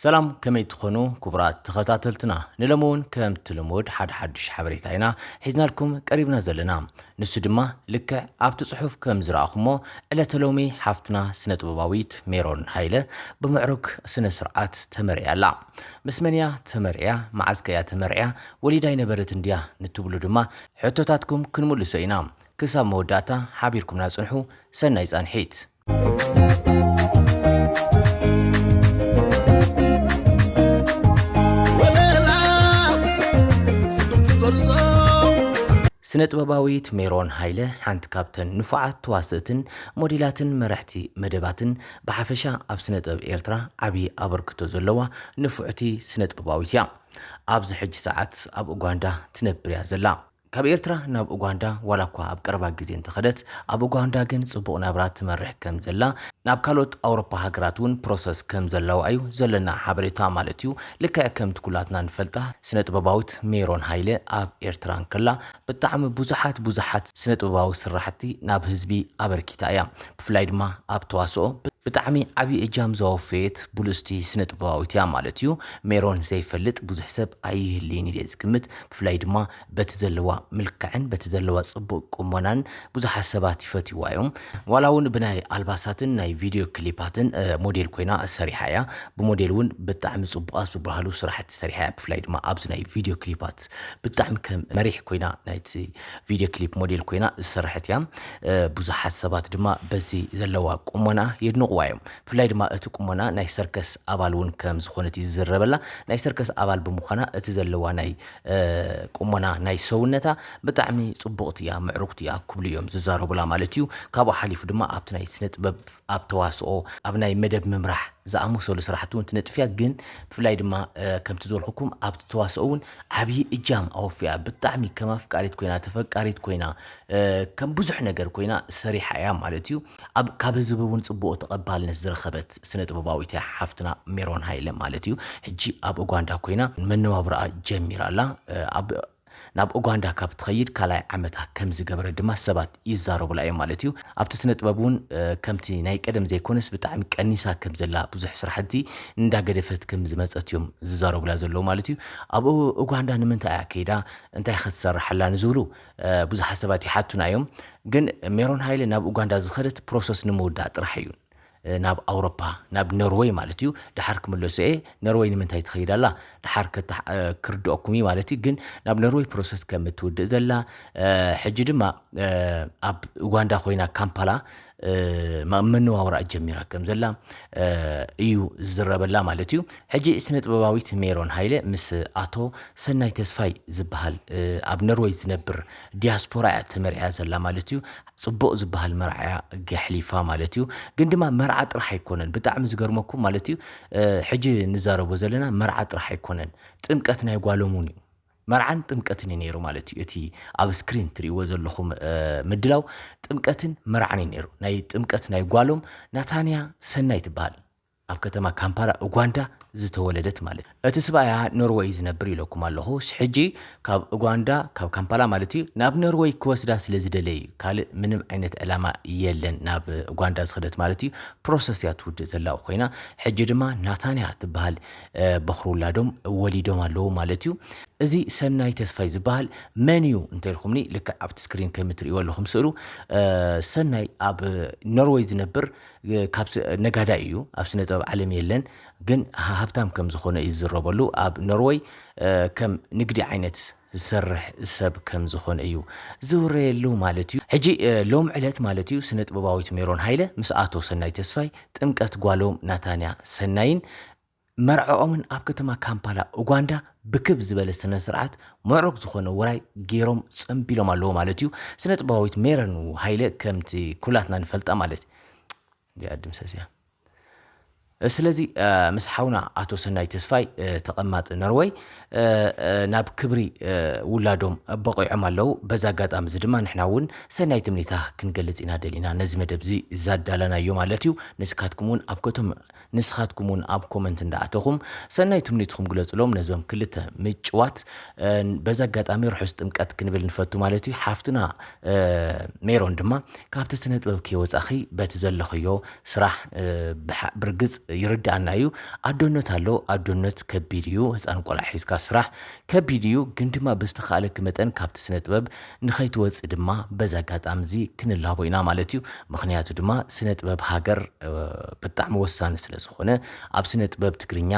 ሰላም ከመይ ትኾኑ ክቡራት ተኸታተልትና ንሎሚ እውን ከምቲ ልሙድ ሓደ ሓዱሽ ሓበሬታ ኢና ሒዝናልኩም ቀሪብና ዘለና ንሱ ድማ ልክዕ ኣብቲ ጽሑፍ ከም ዝረኣኹሞ ዕለተ ሎሚ ሓፍትና ስነ ጥበባዊት ሜሮን ሃይለ ብምዕሩግ ስነ ስርዓት ተመርዕያ ኣላ ምስ መን እያ ተመርዕያ መዓዝ ከ እያ ተመርዕያ ወሊዳ ኣይነበረት እንድያ ንትብሉ ድማ ሕቶታትኩም ክንምልሶ ኢና ክሳብ መወዳእታ ሓቢርኩምና ጽንሑ ሰናይ ጻንሒት ስነ ጥበባዊት ሜሮን ሃይለ ሓንቲ ካብተን ንፉዓት ተዋስእትን ሞዴላትን መራሕቲ መደባትን ብሓፈሻ ኣብ ስነ ጥበብ ኤርትራ ዓብዪ ኣበርክቶ ዘለዋ ንፉዕቲ ስነ ጥበባዊት እያ። ኣብዚ ሕጂ ሰዓት ኣብ ኡጋንዳ ትነብር እያ ዘላ። ካብ ኤርትራ ናብ ኡጋንዳ ዋላ እኳ ኣብ ቀረባ ግዜ እንተኸደት፣ ኣብ ኡጋንዳ ግን ጽቡቕ ናብራ ትመርሕ ከም ዘላ፣ ናብ ካልኦት ኣውሮፓ ሃገራት እውን ፕሮሰስ ከም ዘለዋ እዩ ዘለና ሓበሬታ ማለት እዩ። ልክዕ ከምቲ ኩላትና ንፈልጣ ስነጥበባዊት ሜሮን ሃይለ ኣብ ኤርትራ እንከላ ብጣዕሚ ብዙሓት ብዙሓት ስነጥበባዊ ስራሕቲ ናብ ህዝቢ ኣበርኪታ እያ። ብፍላይ ድማ ኣብ ተዋስኦ ብጣዕሚ ዓቢ እጃም ዘወፈየት ብሉጽቲ ስነጥበባዊት እያ ማለት እዩ። ሜሮን ዘይፈልጥ ብዙሕ ሰብ ኣይህልይን ኢለ ዝግምት። ብፍላይ ድማ በቲ ዘለዋ ምልክዕን በቲ ዘለዋ ጽቡቅ ቁሞናን ብዙሓት ሰባት ይፈትይዋ እዮም። ዋላ ውን ብናይ ኣልባሳትን ናይ ቪድዮ ክሊፓትን ሞዴል ኮይና ሰሪሓ እያ። ብሞዴል ውን ብጣዕሚ ጽቡቃት ዝብሃሉ ስራሕቲ ሰሪሓ እያ። ብፍላይ ድማ ኣብዚ ናይ ቪድዮ ክሊፓት ብጣዕሚ ከም መሪሕ ኮይና ናይቲ ቪድዮ ክሊፕ ሞዴል ኮይና ዝሰረሐት እያ። ብዙሓት ሰባት ድማ በዚ ዘለዋ ቁሞና የድንቅዋ እዮም። ብፍላይ ድማ እቲ ቁሞና ናይ ሰርከስ ኣባል እውን ከም ዝኾነት እዩ ዝዝረበላ። ናይ ሰርከስ ኣባል ብምዃና እቲ ዘለዋ ናይ ቁሞና ናይ ሰውነታ ብጣዕሚ ጽቡቕቲ እያ፣ ምዕሩግቲ እያ ክብሉ እዮም ዝዛረቡላ ማለት እዩ። ካብኡ ሓሊፉ ድማ ኣብቲ ናይ ስነ ጥበብ፣ ኣብ ተዋስኦ፣ ኣብ ናይ መደብ ምምራሕ ዝኣመሰሉ ስራሕቲ እውን ትነጥፍ እያ። ግን ብፍላይ ድማ ከምቲ ዝበልኩኩም ኣብቲ ተዋስኦ እውን ዓብዪ እጃም ኣወፊያ። ብጣዕሚ ከም ኣፍቃሪት ኮይና፣ ተፈቃሪት ኮይና፣ ከም ብዙሕ ነገር ኮይና ሰሪሓ እያ ማለት እዩ። ኣብ ካብ ህዝቢ እውን ጽቡቕ ተቐባልነት ዝረኸበት ስነ-ጥበባዊት እያ ሓፍትና ሜሮን ሃይለ ማለት እዩ። ሕጂ ኣብ ኡጋንዳ ኮይና መነባብሮኣ ጀሚራ ኣላ። ኣብ ናብ ኡጋንዳ ካብ ትኸይድ ካልኣይ ዓመታ ከም ዝገበረት ድማ ሰባት ይዛረቡላ እዮም ማለት እዩ። ኣብቲ ስነ-ጥበብ እውን ከምቲ ናይ ቀደም ዘይኮነስ ብጣዕሚ ቀኒሳ ከም ዘላ ብዙሕ ስራሕቲ እንዳገደፈት ከም ዝመጸት እዮም ዝዛረቡላ ዘለዉ ማለት እዩ። ኣብ ኡጋንዳ ንምንታይ እያ ከይዳ እንታይኸ ትሰርሕ ኣላ ንዝብሉ ብዙሓት ሰባት ይሓቱና እዮም ግን ሜሮን ሃይለ ናብ ኡጋንዳ ዝኸደት ፕሮሰስ ንምውዳእ ጥራሕ እዩ ናብ ኣውሮፓ ናብ ኖርወይ ማለት እዩ ድሓር ክምለሶ እየ ኖርወይ ንምንታይ ትኸይድ ኣላ ድሓር ክርድኦኩም እዩ ማለት እዩ ግን ናብ ኖርወይ ፕሮሰስ ከም እትውድእ ዘላ ሕጂ ድማ ኣብ ኡጋንዳ ኮይና ካምፓላ መነዋውራኣ ጀሚራ ከም ዘላ እዩ ዝዝረበላ ማለት እዩ ሕጂ ስነ ጥበባዊት ሜሮን ሃይለ ምስ ኣቶ ሰናይ ተስፋይ ዝበሃል ኣብ ነርወይ ዝነብር ዲያስፖራ እያ ተመርዕያ ዘላ ማለት እዩ ጽቡቕ ዝበሃል መርዓያ ገሕሊፋ ማለት እዩ ግን ድማ መርዓ ጥራሕ ኣይኮነን ብጣዕሚ ዝገርመኩም ማለት እዩ ሕጂ ንዛረቦ ዘለና መርዓ ጥራሕ ኣይኮነን ጥምቀት ናይ ጓሎም እውን እዩ መርዓን ጥምቀትን እዩ ነይሩ ማለት እዩ እቲ ኣብ ስክሪን ትርእይዎ ዘለኹም ምድላው ጥምቀትን መርዓን እዩ ነይሩ ናይ ጥምቀት ናይ ጓሎም ናታንያ ሰናይ ትበሃል ኣብ ከተማ ካምፓላ ኡጓንዳ ዝተወለደት ማለት እዩ እቲ ስብኣያ ኖርወይ ዝነብር ኢለኩም ኣለኹ ሕጂ ካብ ኡጓንዳ ካብ ካምፓላ ማለት እዩ ናብ ኖርወይ ክወስዳ ስለ ዝደለ እዩ ካልእ ምንም ዓይነት ዕላማ የለን ናብ ኡጓንዳ ዝኸደት ማለት እዩ ፕሮሰስ እያ ትውድእ ዘላ ኮይና ሕጂ ድማ ናታንያ ትበሃል በዅሪ ውላዶም ወሊዶም ኣለዉ ማለት እዩ። እዚ ሰናይ ተስፋይ ዝበሃል መን እዩ እንተልኩምኒ ልክዕ ኣብቲ ስክሪን ከም እትርእይዎ ኣለኹም ስእሉ ሰናይ ኣብ ኖርወይ ዝነብር ካብ ነጋዳይ እዩ። ኣብ ስነ ጥበብ ዓለም የለን ግን ሃብታም ከም ዝኾነ እዩ ዝዝረበሉ። ኣብ ኖርወይ ከም ንግዲ ዓይነት ዝሰርሕ ሰብ ከም ዝኾነ እዩ ዝውረየሉ ማለት እዩ። ሕጂ ሎሚ ዕለት ማለት እዩ ስነጥበባዊት ሜሮን ሃይለ ምስ ኣቶ ሰናይ ተስፋይ ጥምቀት ጓሎም ናታንያ ሰናይን መርዕኦምን ኣብ ከተማ ካምፓላ ኡጓንዳ ብክብ ዝበለ ስነስርዓት ምዕሩግ ዝኾነ ውራይ ጌሮም ጸምቢሎም ኣለዉ ማለት እዩ። ስነጥበባዊት ሜሮን ሃይለ ከምቲ ኩላትና ንፈልጣ ማለት እዚኣ ድምሰስ እያ። ስለዚ ምስ ሓውና ኣቶ ሰናይ ተስፋይ ተቐማጢ ነርወይ ናብ ክብሪ ውላዶም በቂዖም ኣለው በዛ ኣጋጣሚ እዚ ድማ ንሕና እውን ሰናይ ትምኒታ ክንገልጽ ኢና ደሊና ነዚ መደብ እዚ ዛዳላናዮ ማለት እዩ ንስካትኩም እውን ኣብ ከቶም ንስኻትኩም እውን ኣብ ኮመንት እንዳኣተኹም ሰናይ ትምኒትኩም ግለጽሎም ነዞም ክልተ ምጭዋት በዛ ኣጋጣሚ ርሑስ ጥምቀት ክንብል ንፈቱ ማለት እዩ ሓፍትና ሜሮን ድማ ካብቲ ስነ ጥበብ ከይወፃኺ በቲ ዘለኽዮ ስራሕ ብርግፅ ይርዳኣና እዩ ኣዶነት ኣሎ ኣዶነት ከቢድ እዩ ህፃን ቆልዓ ሒዝካ ስራሕ ከቢድ እዩ ግን ድማ ብዝተኻእለኪ መጠን ካብቲ ስነ ጥበብ ንኸይትወፅእ ድማ በዚ ኣጋጣሚ እዚ ክንላቦ ኢና ማለት እዩ ምክንያቱ ድማ ስነ ጥበብ ሃገር ብጣዕሚ ወሳኒ ስለ ዝኾነ ኣብ ስነ ጥበብ ትግርኛ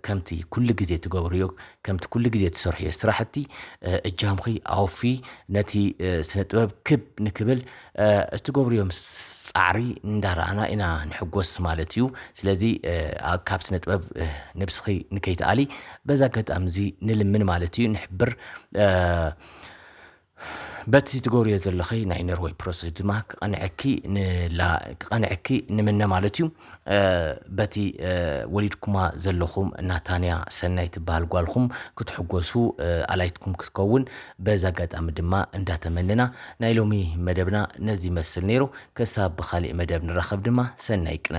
ከምቲ ኩሉ ግዜ ትገብርዮ ከምቲ ኩሉ ግዜ ትሰርሕዮ ስራሕቲ እጃምኺ ኣውፊ ነቲ ስነ ጥበብ ክብ ንክብል እትገብርዮም ጻዕሪ እንዳራኣና ኢና ንሕጎስ ማለት እዩ ስለዚ ካብ ስነ ጥበብ ንብስኺ ንከይትኣሊ በዚ ኣጋጣሚ እዚ ንልምን ማለት እዩ ንሕብር በቲ ትገብርዮ ዘለኺ ናይ ነርወይ ፕሮሰስ ድማ ክቐንዐኪ ክቐንዐኪ ንምነ ማለት እዩ በቲ ወሊድኩማ ዘለኹም ናታንያ ሰናይ ትበሃል ጓልኹም ክትሕጎሱ ኣላይትኩም ክትከውን በዚ ኣጋጣሚ ድማ እንዳተመነና ናይ ሎሚ መደብና ነዚ ይመስል ነይሩ ክሳብ ብካሊእ መደብ ንራኸብ ድማ ሰናይ ቅነ